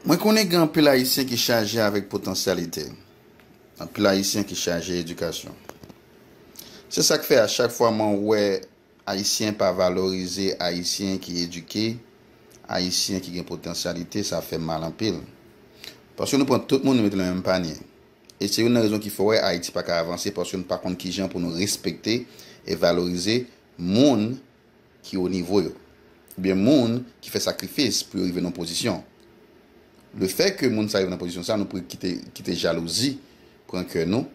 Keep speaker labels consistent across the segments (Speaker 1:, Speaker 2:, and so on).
Speaker 1: Mwen konnen gen anpil Ayisyen ki chaje avèk potansyalite, anpil Ayisyen ki chaje edikasyon. Se sa k fè a chak fwa mwen wè Ayisyen pa valorize Ayisyen ki edike, Ayisyen ki gen potansyalite, sa fè m mal anpil. Paske nou pran tout moun nou mete nan menm panye. E se youn nan rezon ki fè w wè Ayiti pa ka avanse paske nou pa konn kijan pou nou respekte e valorize moun ki o nivo yo, oubyen moun ki fè sakrifis pou yo rive nan pozisyon. Le fè ke moun sa rive nan pozisyon sa, nou pre kite, kite jalouzi pran kè nou,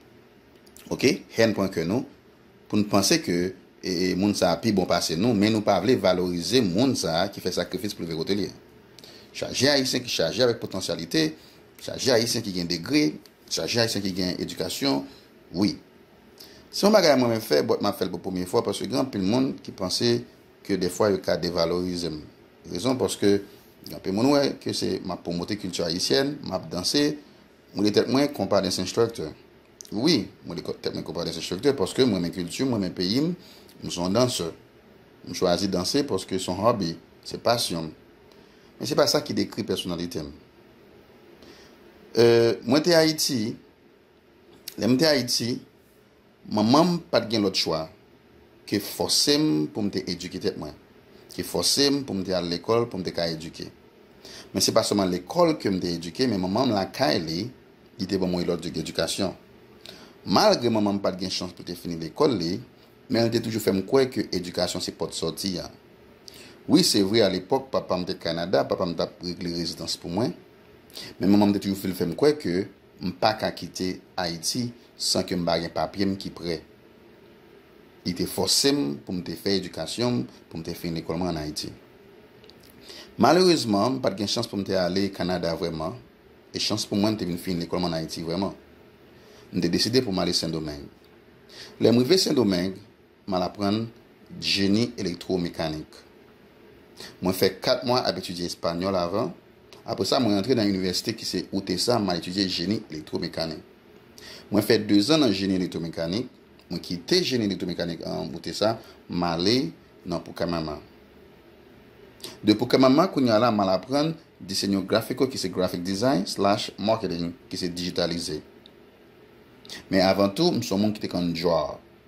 Speaker 1: ok, hèn pran kè nou, pou nou panse ke e, e moun sa pi bon pase nou, men nou pa vle valorize moun sa ki fè sakrifis pou rive kote li. Chaje Ayisyen ki chaje avèk potansyalite, chaje Ayisyen ki gen degre, chaje Ayisyen ki gen edikasyon, wi. Se yon bagay mwen fè but map fèl pou premye fwa paske gen anpil moun ki panse ke dèfwa yo ka devalorizem rezon paske gen anpil moun wè ke se map promote kilti ayisyèn map danse mwen rele tèt mwen konpa dance instructor wi mwen rele tèt mwen konpa dance instructor paske mrenmen kiltim mrenmen peyim m son dansè m chwazi danse paske son hobby se pasyonm men se pa sa ki dekri pèsonalitem euh mwen te ayiti. Lè m te Ayiti, manman m pa t gen lòt chwa ke fòse m pou m te edike tèt mwen, ke fòse m pou m te al lekòl pou m te ka edike. Men se pa sèlman lekòl ke m te edike men manman m lakay li, li te ban mwen lòt edikasyon. Malgre manman m pa t gen chans pou l te fini lekòl li, men l te toujou fè m kwè ke edikasyon se pòt sòti a. Wi se vre alepòk papa m te Kanada, papa m t ap regle rezidans pou mwen, men manman m te toujou fè l fè m kwè ke M pa ka kite Ayiti san ke m pa gen papye m ki prè. Li te fòse m pou m te fè edikasyon m pou m te fin lekòl mwen an Ayiti. Malerezman, m pa t gen chans pou m te ale Kanada vrèman, e chans pou mwen m te vin fin lekòl mwen an Ayiti vrèman. M te deside pou m ale Sendomeng. Lè m rive Sendomeng, M al aprann jeni elektwo-mekanik. Mwen fè 4 mwa ap etidye espanyòl avan, apre sa mwen rantre nan inivèsite ki se UTESA m al etidye jeni elektwo-mekanik. Mwen fè 2 zan nan jeni elektwo-mekanik, mwen kite jeni elektwo-mekanik an UTESA m ale nan Pucamama. De Pucamama kounye a la m al aprann Diseño Gráfico ki se Graphic Design slash Marketing ki se dijitalize. Men avan tou m s on moun ki te konn djòl.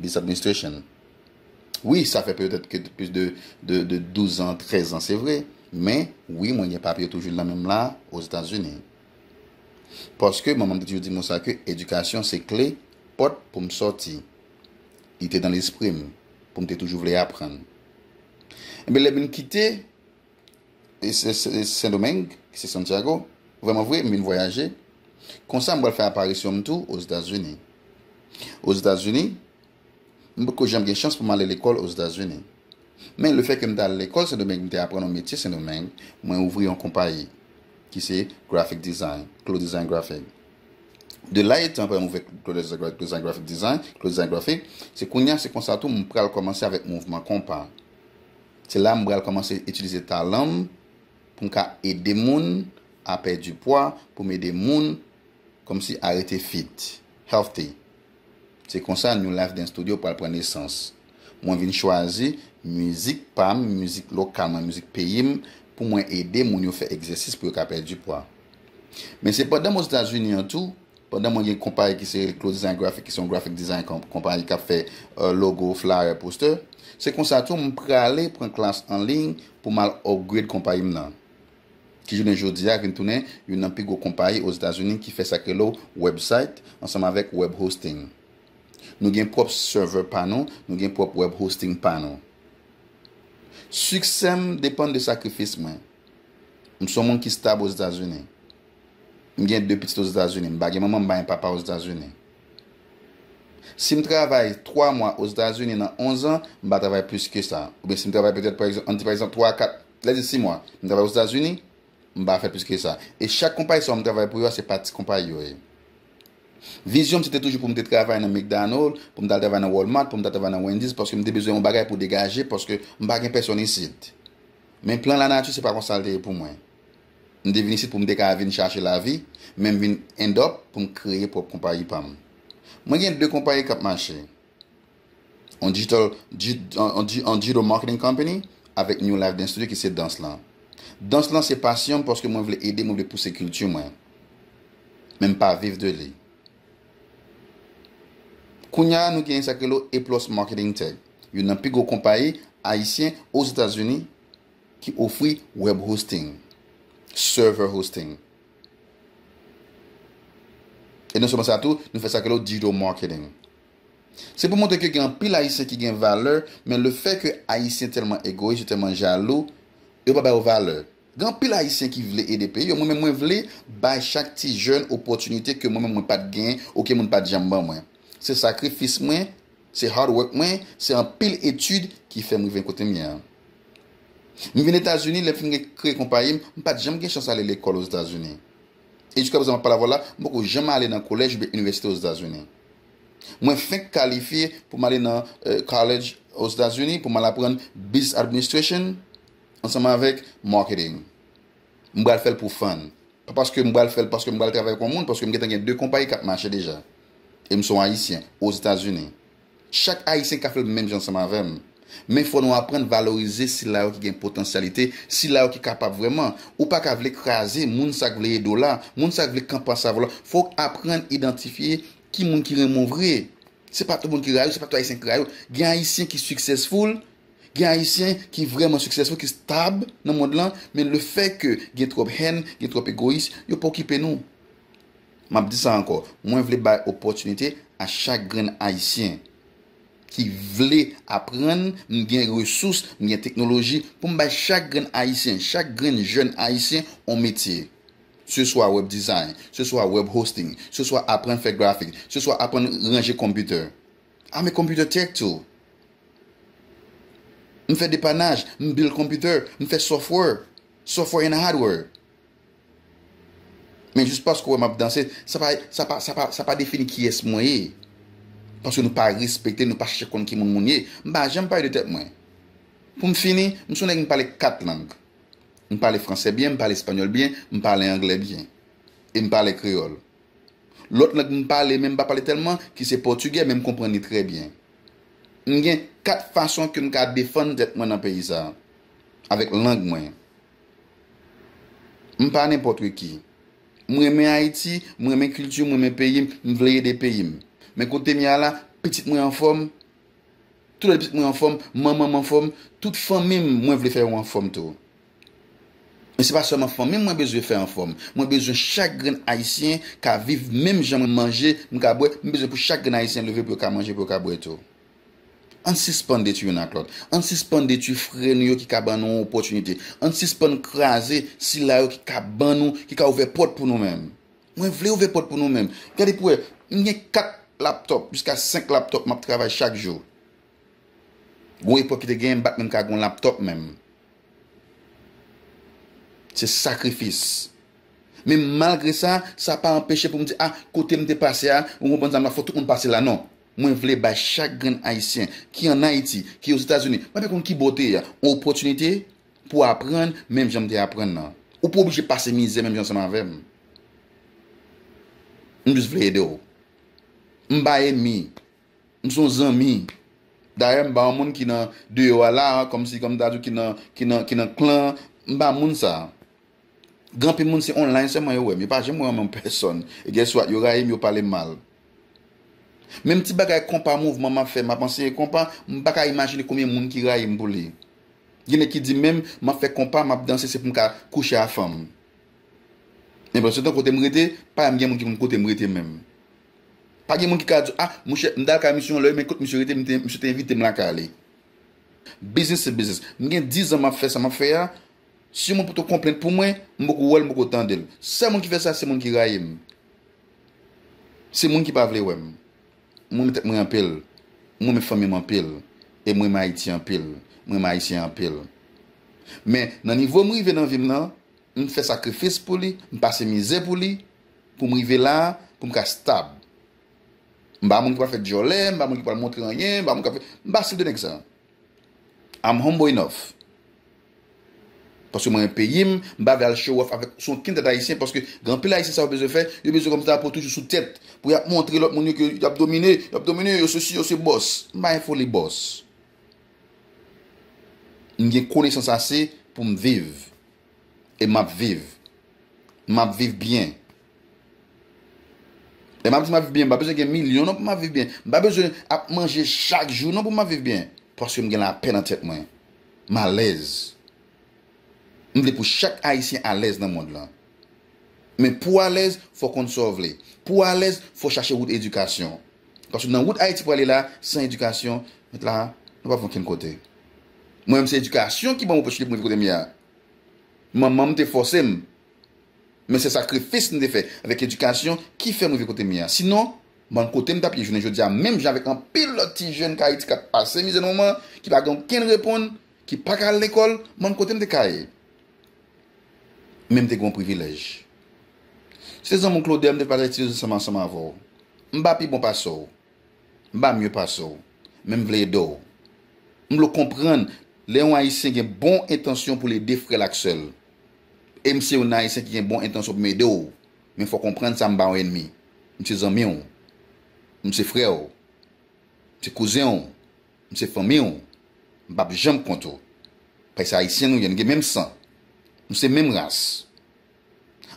Speaker 1: This administration Wi sa fè petèt ke plis de 12 ans, 13 ans se vre men wi mwen gen papye toujou l nan menm la Ozetazini. Paske manman m te toujou di mwen sa ke edikasyon se kle pòt pou m sòti. Li te nan lespri m pou m te toujou vle aprann. Enben lè m vin kite Sendomeng, ki se Santiago. Vrèman vre, m vin vwayaje. Konsa, m pral fè aparisyon m tou Ozetazini. Ozetazini, m potko janm gen chans pou m ale lekòl Ozetazini. Men, lefè ke m te al lekòl Sendomeng, m te aprann yon metye Sendomeng, mwen ouvri yon konpayi, ki se Graphic Design, Clo Design Graphic. De la etan apre m ouvè Clo Design Graphic Design, Clo Design Graphic, se kounye a, se konsa tou m pral kòmanse avèk mouvman konpa. Se la m pral kòmanse itilize talan m pou m ka ede moun a pèdi pwa, pou m ede moun kòmsi a rete fit, healthy. Se konsa New Life Dance Studio pral pran nesans. Mwen vin chwazi mizik pa m, mizik lokal mwen, mizik peyi m pou mwen ede moun yo fè egzèsis pou yo ka pèdi pwa. Men se pandan m Ozetazini an tou Pandan mwen gen konpayi ki se Close Design Graphic ki se yon graphic design konpayi kap fè logo, flyer, poster, se konsa tou m prale pran klas an liy pou m al upgrade konpayi m nan ki jounen jodia vin tounen youn nan pi gwo konpayi Ozetazini ki fè sak rele website ansanm avèk web hosting. Nou gen pwòp server pa nou, nou gen pwòp web hosting pa nou. Siksè m depann de sakrifis mwen. M son moun ki stab Ozetazini. M gen 2 pitit Ozetazini. M pa gen manman, m pa gen papa Ozetazini. Si m travay 3 mwa Ozetazini nan 11 an, m pa travay plis ke sa. Oubyen si m travay petèt, an n di pa egzanp 3 a 4, lè di 6 mwa, m travay Ozetazini, m pa fè plis ke sa. E chak konpayi sa yo m travay pou yo a, se pa ti konpayi yo ye. Vizyon m se te toujou pou m te travay nan McDonald, pou m t al travay nan Walmart, pou m t al travay nan Wendy's, paske m te bezwen yon bagay pou degaje, paske m pa gen pèsòn isit. Men plan lanati se pa konsa l te ye pou mwen. M te vin isit pou m te ka vin chache lavi, men m vin end up pou m kreye pwòp konpayi pa m. Mwen gen 2 konpayi k ap mache. On digital on digital marketing company avèk New Life Dance Studio ki se dans lan. Dans lan se pasyon m paske mwen vle ede, mwen vle pouse kilti mwen. Men m pa viv de li. Kounya nou genyen sa k rele A Plus Marketing Tech, youn nan pi gwo konpayi ayisyen Ozetazini ki ofri web hosting, server hosting. E non sèlman sa tou, nou fè sa k rele digital marketing. Se pou montre ke gen anpil ayisyen ki gen valè, men le fè ke ayisyen tèlman egoyis, yo tèlman jalou, yo pa ba yo valè. Gen anpil ayisyen ki vle ede peyi yo mwen menm mwen vle bay chak ti jèn opòtinite ke mwen menm mwen pat gen ou ke moun pat janm ban mwen se sakrifis mwen se hard work mwen se anpil etid ki fèm rive kote m ye an m vin etazini lèm fin kreye konpayi m m pat janm gen chans ale lekòl ozetazini e jiska prezan map pale avèw la m poko janm ale nan kolèj oubyen inivèsite ozetazini mwen fenk kalifye pou m ale nan college ozetazini pou m al aprann business administration. Ansanm avèk marketing. M pral fè l pou fan. Pa paske m pral fè l paske m pral travay pou yon moun paske m gentan gen 2 konpayi k ap mache deja. E m s on Ayisyen Ozetazini. Chak Ayisyen ka fè l menm jan ansanm avè m. Men fò nou aprann valorize sila yo ki gen potansyalite, sila yo ki kapab vrèman. Ou pa ka vle kraze moun sa k vle ede w la, moun sa k vle kanpe ansanm avè w la. Fò w aprann idantifye ki moun ki renmen w vre. Se pa tout moun ki rayi w, se pa tout Ayisyen ki rayi w. Gen Ayisyen ki successful. Gen Ayisyen ki vrèman siksesful, ki stab nan mond lan, men le fè ke gen twòp hèn, gen twòp egoyis, yo pa okipe nou. M ap di sa ankò, mwen vle bay opòtinite a chak grenn Ayisyen ki vle aprann, m gen resous, m gen teknoloji pou m bay chak grenn Ayisyen, chak grenn jèn Ayisyen on metye. Se swa web design, se swa web hosting, se swa aprann fè grafik, se swa aprann ranje computer. A me computer tech too. M fè depanaj, m build computer, m fè software, software and hardware. Men jis paske w wè m ap danse, sa pa, sa pa, sa pa, sa pa defini kiyès mwen ye. Paske nou pa respekte, nou pa chèche konn ki moun moun ye. M pa janm pale de tèt mwen. Pou m fini, m son nèg m pale 4 lang. M pale fransè byen, m pale espanyòl byen, m pale anglè byen. E m pale kreyòl. Lòt lang m pale men m pa pale tèlman ki se pòtigè men m konprann li trè byen. M gen 4 fason ke m ka defann tèt mwen nan peyi sa avèk lang mwen. M pa nenpòtreki. M renmen Ayiti, m renmen kilti m, m renmen peyi m, m vle ede peyi m. Men kote m ye a la, pitit mwen anfòm, tout lòt pitit mwen anfòm, manman m anfòm, tout fanmi m mwen vle fè yo anfòm tou. Men se pa sèlman fanmim mwen bezwen fè anfòm, mwen bezwen chak grenn ayisyen ka viv menm jan mwen manje, m ka bwè, m bezwen pou chak grenn ayisyen leve pou yo ka manje pou yo ka bwè tou. Ann sispann detwi youn ak lòt, ann sispann detwi frè nou yo ki ka ban nou opòtinite, ann sispann kraze sila yo ki ka ban nou, ki ka ouvè pòt pou nou menm. Mwen vle ouvè pòt pou nou menm. Gade pou wè, m gen 4 laptòp jiska 5 laptòp m ap travay chak jou. Gon epòk ki te genyen m pat menm ka gon laptop menm. Se sakrifis. Men malgre sa, sa pa anpeche pou m di ah kote m te pase a, ou konprann sa m la fò tout moun pase la non. Mwen vle bay chak grenn Ayisyen ki an Ayiti, ki Ozetazini, mwen pa konn ki bò w te ye a, yon opòtinite pou aprann menm jan m te aprann nan. Ou pa oblije pase mizè menm jan ansanm avè m. M jis vle ede w. M pa enmi. M son zanmi. Dayè m pa yon moun ki nan deyò a la a, kòmsi kòm ta di w ki nan, ki nan, ki nan klan an. M pa moun sa a. Gen anpil moun se online sèlman yo wè m. Yo pa janm wè m anmenm pèsòn. E guess what? Yo rayi m, yo pale m mal. Menm ti bagay konpa mouvman m ap fè, m ap anseye konpa, m pa ka imajine konbyen moun ki rayi m pou li. Gen nèg ki di menm, m ap fè konpa, m ap danse se pou m ka kouche a fanm. Men pandan se tan kote m rete, pa janm gen moun ki konn kote m rete menm. Pa gen moun ki ka di w, ah, mouche, m t al kay misye yon lè wi, men kot misye rete, misye te envite m lakay li. Biznis se biznis. M gen dizan m ap fè sa m ap fè a, si yon moun poto konplenn pou mwen, m poko wè l, m poko tande l. Sèl moun ki fè sa, se moun ki rayi m. Se moun ki pa vle wè m. M renmen tèt mwen anpil. M renmen fanmi m anpil. E m renmen Ayiti anpil. M renmen Ayisyen anpil. Men, nan nivo m rive nan vi m nan, M fè sakrifis pou li, m pase mizè pou li, pou m rive la a, pou m ka stab. M pa moun ki pral fè dyòlè, m pa moun ki pral montre anyen, m pa moun k ap fè, m pa stil de nèg sa a. I'm humble enough. Paske m renmen peyi m, m pa vle al show off avèk sou okenn tèt ayisyen paske gen anpil ayisyen sa yo bezwen fè, yo bezwen kòm drapo toujou sou tèt pou y ap montre lòt moun yo ke y ap domine, y ap domine, yo sesi, yo se bòs. M pa gen foli bòs. M gen konesans ase pou m viv. e m ap viv. M ap viv byen. Lè m ap di m ap viv byen, m pa bezwen gen milyon non pou m ap viv byen. M pa bezwen ap manje chak jou non pou m ap viv byen. Paske m gen lapè nan tèt mwen. M alèz. M vle pou chak Ayisyen alèz nan mond lan. Men pou w alèz, fò w konn sa w vle. Pou w alèz, fò w chache wout edikasyon. Paske nan wout Ayiti pwale la, san edikasyon, nou pa pran okenn kote. Mwen menm se edikasyon ki ban m opòtinite pou m rive kote m ye a. Manman m te fòse m, men se sakrifis m te fè avèk edikasyon ki fè m rive kote m ye a. Sinon, bann kote m t ap ye jounen jodi a menm jan avèk anpil lòt ti jèn k Ayiti k ap pase mizè nan moman an, ki pa gen okenn reponn, ki pa ka al lekòl, bann kote m te ka ye. Men m te gen yon privilèj. Se zanmi w Claude a, m te pataje ti dezi ansanm avè w. M pa pi bon pase w. M pa mye pase w, men m vle ede w. M vle w konprann lè yon Ayisyen gen bon entansyon pou l ede frè l ak sè l. E m se yon Ayisyen ki gen bon entansyon pou m ede w, men fò w konprann sa m pa yon enmi. M se zanmi w. M se frè w. M se kouzen w. M se fanmi w. M pap janm kont ou. Paske se Ayisyen nou ye, nou gen menm san. Nou se menm ras.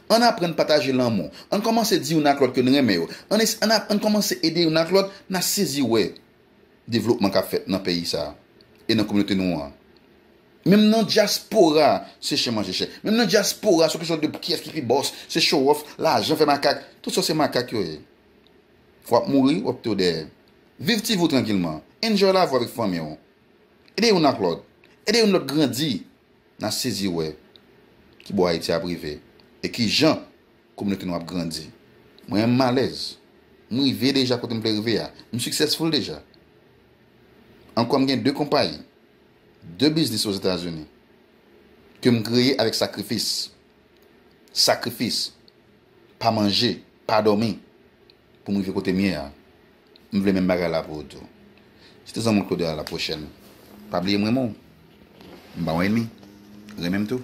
Speaker 1: Ann aprann pataje lanmou. Ann kòmanse di youn ak lòt ke n renmen yo. Ann es, ann ap, ann kòmanse ede youn ak lòt, n a sezi wè devlopman k ap fèt nan peyi sa a e nan kominote nou an. Menm nan dyaspora se chen manje chen. Menm nan dyaspora se yon kesyon de pou kiyès ki pi bòs, se show off, lajan fè makak. Tout sa yo se makak yo ye. W ap mouri, w ap kite yo dèyè. Viv ti vi w trankilman. Enjoy lavi w avèk fanmi w. Ede youn ak lòt. Ede youn lòt grandi. Nan sezi wè ki bò Ayiti ap rive e ki jan kominote nou ap grandi. Mwen menm m alèz. M rive deja kote m vle rive a. M successful deja. Ankò m gen 2 konpayi, 2 biznis Ozetazini ke m kreye avèk sakrifis. Sakrifis. Pa manje, pa dòmi pou m rive kote m ye a. M vle menm bagay la pou ou tou. Se te zanmi'w Claude a la pwochèn. Pa bliye m renmen w. M pa w enmi. Renmen m tou.